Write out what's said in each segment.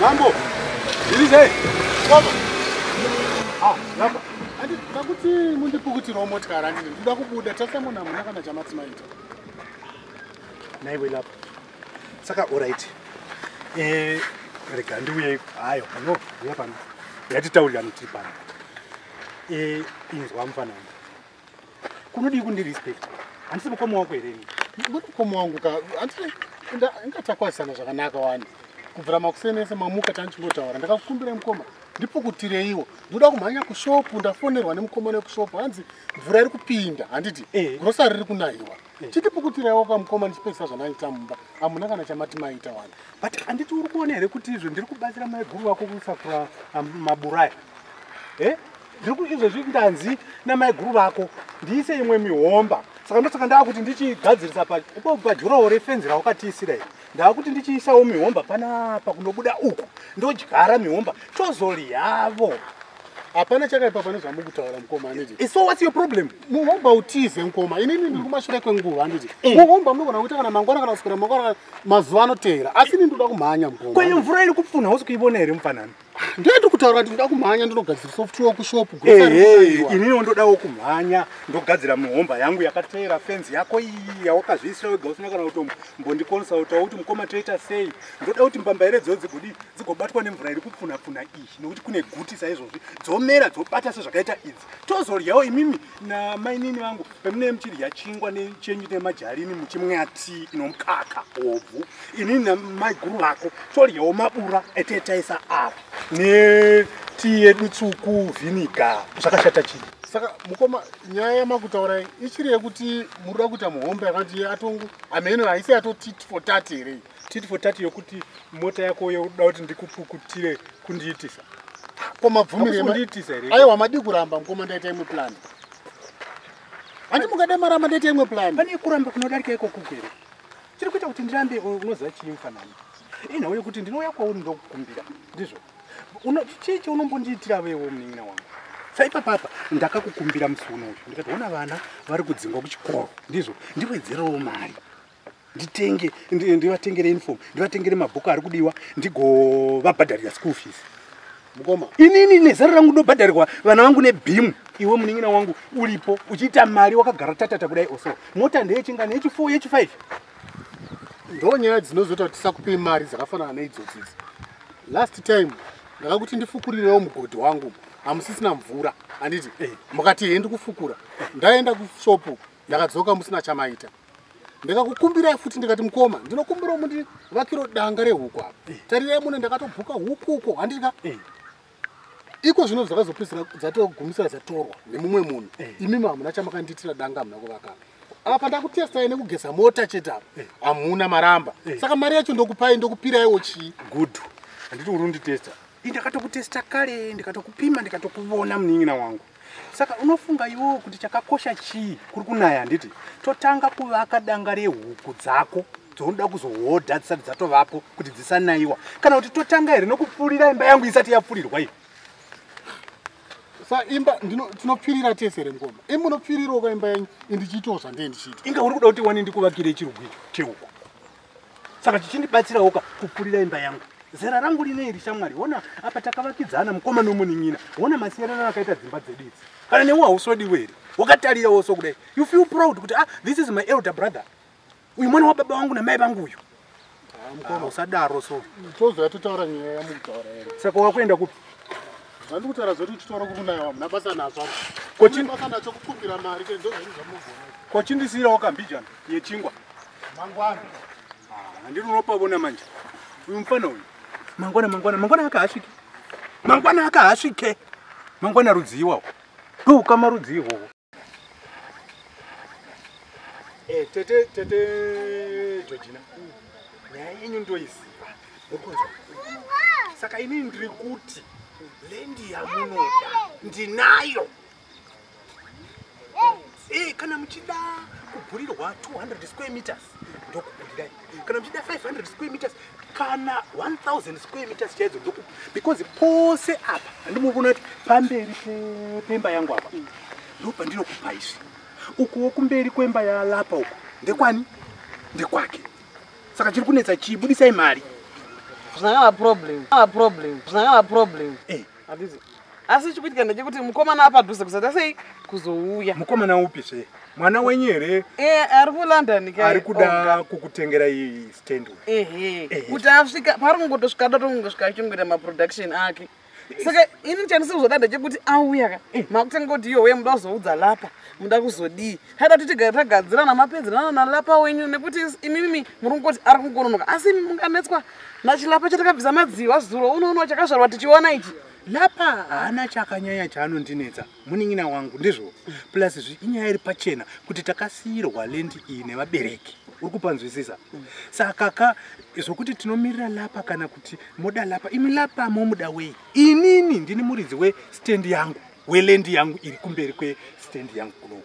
Mambo, zvirizei? Mambo. Ah, lapa. Andi takuti mundipukutirawo motikari andini ndoda kubuda tasamona hamuna kana chamati maita. Naiwe lapa. Saka all right. Eh, rega ndiuye hayo pano uya pano. Yatitaurirana tiri pano. Eh, inzwa mfana wangu. kunodii kundi respect handisi mukoma wako here muri mukoma wangu ka handisi ingatakwazisana zvakanaka wani kubvira makuseni ese mamuka tanichingotaura ndakakukumbira mukoma ndipukutiraiwo ndoda kumhanya kushopu ndafonerwa nemukoma nekushopu hanzi mvura iri kupinda handiti eh. grosari riri kunahiwa eh. chitipukutiraiwo kamukoma ndichipedzisa zvanaita mumba hamuna kana chamati maita wani but handiti uri kuona here kuti izvo ndiri kubatsira maiguru vako kusakura um, maburaya e eh? ndiri kuti izvezvi ndanzi namaiguru vako ndiise imwe mihomba saka ndosaka ndava kuti ndichigadzirisa paipopo pajurawo refenzi raukatiisira iri ndava kuti ndichiisawo mihomba panapa kunobuda uku ndodyara mihomba tozolyavo hapana chakaipa pane zvamukutaura mukoma anditi eh, so whats your problem muhomba utize mukoma inini ndiri kumashure kwenguva anditi eh. muhomba munogona kuita kana mangwana kana kusukira mangwana mazuva anoteera asi ini ndoda kumhanya mukoma kwayo mvura iri kupfunha usi kuivona here mufanani ndiri kutaura kuti ndoda kumhanya ndinogadzira software kushop inini ndodawo kumhanya ndogadzira mihomba yangu yakateera fenzi yako iyi yawakazviisira wega usina kana kuti mbondikonsautawo kuti mukoma toita sei ndoda kuti mbamba here dzo dzigodi dzigobatwa nemvura iri kupfunapfuna iyi nekuti kune guti saizvozvi dzomera dzobata sezvakaita idzi tozodyawo imimi namainini vangu pemunee muchidya chingwa nechenyu nemajarini muchimwa tii inomukaka obvu inini namaiguru vako todyawo mabura etetaisa apa netii yedu tsuku vhiniga zvakashata chii saka mukoma nyaya yamakutaura ichiri yekuti muri kuda kuita muhombe yakati atongo ameno haisi yatoti for tat here titi for tati yokuti mota yako yoda kuti ndikupukutire kundiitisa ko mabvumirekundiitisa here aiwa madii kuramba mukoma ndaita imwe plan handi mukada maramba ndaita imwe plan pane kuramba kunodarika iko kuku here chiri kuita kuti ndirambe unoziva chii mufanani inhau yokuti ndinouya kwauri ndokukumbira ndizvo chii chaunombondiitira vewo munin'ina wangu saipa papa ndakakukumbira musi uno uyu ndikatoona vana vari kudzingwa kuchikoro ndizvo ndiwedzerawo mari nditenge ndivatengere uniform ndivatengere mabhuku ari kudiwa ndigovabhadharira school fees mukoma inini nezero rangu ndobhadharirwa vana vangu nebhimu iwe munin'ina wangu uripo uchiita mari wakagara tatata kudai oso mota ndeyechingani yechifour yechifive ndo nyaya dzinozoita kuti tisakupei mari dzakafanana neidzodzidzi last time ndakakuti ndifukurirewo mugodhi wangu hamusisina mvura handiti eh. mukati hendi kufukura ndaenda kushopu ndakadzoka musina chamaita ndakakukumbirai futi ndikati mukoma ndinokumbirawo mundivakiro danga rehuku apa eh. tarirai mune ndakatobhuka huku uko handiti ka eh. iko zvino dzakazopedzisira dzatogumisira dzatorwa nemumwe munhu eh. imimi hamuna chamakandiitira danga hamuna kuvakapa apa pandakutestai nekugeza mota chete apa hamuna maramba saka mari yacho ndokupai ndokupiraiwo chii gudhu handiti uri unditesta i ndakatokutesta kale ndikatokupima ndikatokuvona munin'ina wangu Saka unofunga iwewo kuti chakakosha chii kuri kunaya handiti? Totanga kuvaka danga rehuku dzako dzounoda kuzohodha dzisati dzatovapo kuti dzisanaiwa kana kuti totanga here nokupfurira imba yangu isati yapfurirwa iyo sa imba tinopfirira tese here ngoma i munopfirirawo ka imba yenyu indichiitawo zvandee ndichiita inga uri kuda kuti wani ndikuvakire chirugu icho chehuku saka chichindibatsirawoka kupfurira imba yangu zera rangu rine iri shamwari hona apa takavakidzana mukoma nomunin'ina hona masiyerano akaita dzimba dzedu idzi kana newe hausodiwe here wakatarirawo so kudai you feel proud kuti ah this is my elder brother uyu mwana wababa wangu namai vangu uyu ah, mukoma ah, usadaro so tozoya totaura nyaya yamukutaura saka wakuenda kupi Zvandikutaura zvoti uchitaura kukunaya wamuna basa nazvo. Kochi basa nacho kukumbira mari ke ndozvinhu zvamunoona. Kochi ndisirawo kambijana yechingwa. Mangwana. Ah, ndiri unopavona manje. Uyu mfana uyu. Mangwana mangwana mangwana akahasvike. Mangwana akahasvike. Mangwana rudziwa. Ndoukama rudziwa. Eh, tete tete Georgina. Nyaya yenyu ndoiziva. Mukunzwa? Saka ini ndiri kuti lendi yamunoda ndinayo. Eh, kana muchida kugurirwa 200 square meters ndokugurirani. kana muchida 500 square meters kana 1000 square meters chaidzo ndokupa because pose apa handimukuona kuti pamberi pemba yangu apa ndopandinokupa izvi ukuwo kumberi kwemba yalapa uku ndekwani ndekwake saka chiri kunetsa chii budisai mari zvinangava problem zvinangava problem zvinangava problem eh. handizi asi chikuitika ndechekuti mukomana apadhuze kusada sei kuzouya mukomana upi zve mwana wenyu here eh, ari kulondon ari kuda kukutengera stand kuti asvika paari kungotosvika datongosvika achingoita maproduction ake saka ini chandisi kuzodada chekuti auya ka eh. makutanga kuti iyowe muda kuzoudza lapa muda kuzodii haida kuti tigare tagadzirana mapedzerana nalapa wenyu nekuti imimi muri kungoti ari kungononoka asi imi munganetswa nachilapa chatakabvisa madziwa zuro unoono chakazvarwa tichiona ichi lapa haana chakanyanya chaanondinetsa munin'ina wangu ndizvo plus zvi inyaya iri pachena kuti takasiyirwa lendi iyi nevabereki uri kupanzwisisa saka ka zvokuti tinomirira lapa kana kuti moda lapa imi lapa momuda wei inini ndini muridzi westendi yangu weland yangu iri kumberi kwestand yangu kuno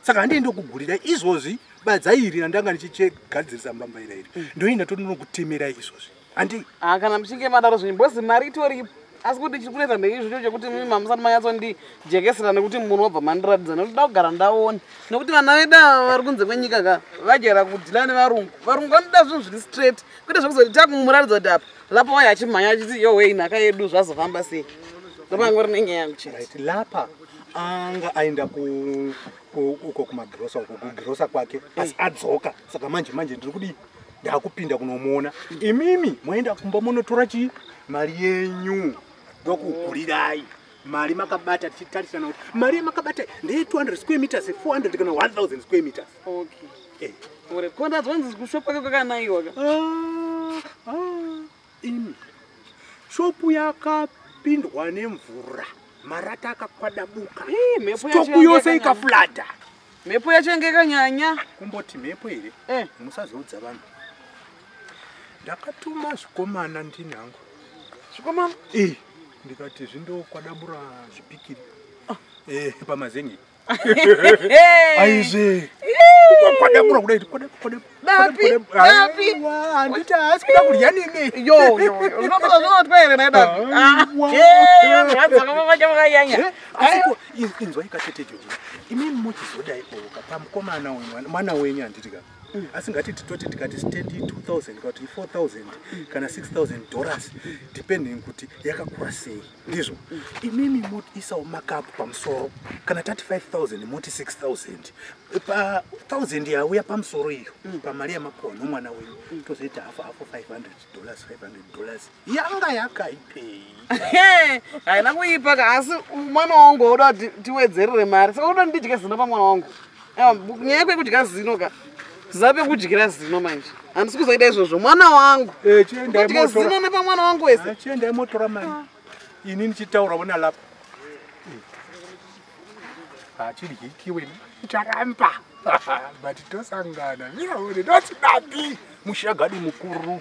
saka handei ndokugurira izvozvi badza iri randanga ndichigadzirisa mbamba ira iri mm. ndoenda tondinokutemerai izvozvi handei ha ah, kana muchinge madaro zvinyi bhozi mari itoripo asi kuti chiri kunetsa ndeizvocho chekuti mimi mamusati manyatsondi-jekesera nekuti munhu wabva mandiratidza nekuti da kugara ndaone nekuti vana veda vari kunze kwenyika ka vajera kudila nevarungu varungu vanoda zvinhu zviri straight kwete zvekuzoti takumuraridza kuti apa lapa waya achimhanya achiti yohwei nhaka yedu zvazofamba sei lapa yangu rine nyaya yangu chete lapa anga aenda uko kumagirosa uko kugirosa kwake asi adzoka saka manje manje ndiri kudii ndakupinda kunomuona imimi moenda kumba monotora chii mari yenyu ndokukulirai mari makabata tichitarisana kuti mari yamakabata ndeye 200 square meters 400 kana 1000 square meters Okay. Eh. Ure ko ndanzwa nzi kushopu kwake kwakanaiwa ka. Ah, ah, imi. Shopu yakapindwa nemvura. Marata akakwadabuka. Eh, mhepo yacho. Shopu yose ikaflata. Mhepo yacho yanga ikanyanya. Kumboti mhepo here? Eh. Musazoudza vanhu. Ndakatuma zvikomana ndini hangu. Zvikomana? Eh. Ndikati zvindokwada bura zvipikiri. Ah. Eh, pamazengi. aizve kwadabura kudai kwadaburaanditi haasi kuda kudya niniinzwai katete joi imini mochizodai oka pamukomana uyu mwana wenyu handiti ka mm. asi ngati titoti tikati stendi 2000 kana kuti 4000 kana 6000 dollars depending kuti yakakura sei ndizvo imimi motiisawo makapu pamusoro kana tati 5000 moti 6000 pa 1000 yauya pamusoro iyo mm. pamari yamapuwa nomwana wenyu mm. tozoita hafu hafu 500 dollars 500 dollars yanga yakaipei haina kuipa ka asi mwana wangu wauda kuti tiwedzerere mari saka uda ndidye zino pamwana wangu nyaya kwekudya zino ka zape kudyira zino manje handisi kuzoita izvozvo mwana wangu eh, kudya zino nepamwana wangu wese chiendai motora mani ini ndichitaura vona lapa hachidyikiwe eh. ah, icharamba but tosangana viraone notidadi mushagadi mukuru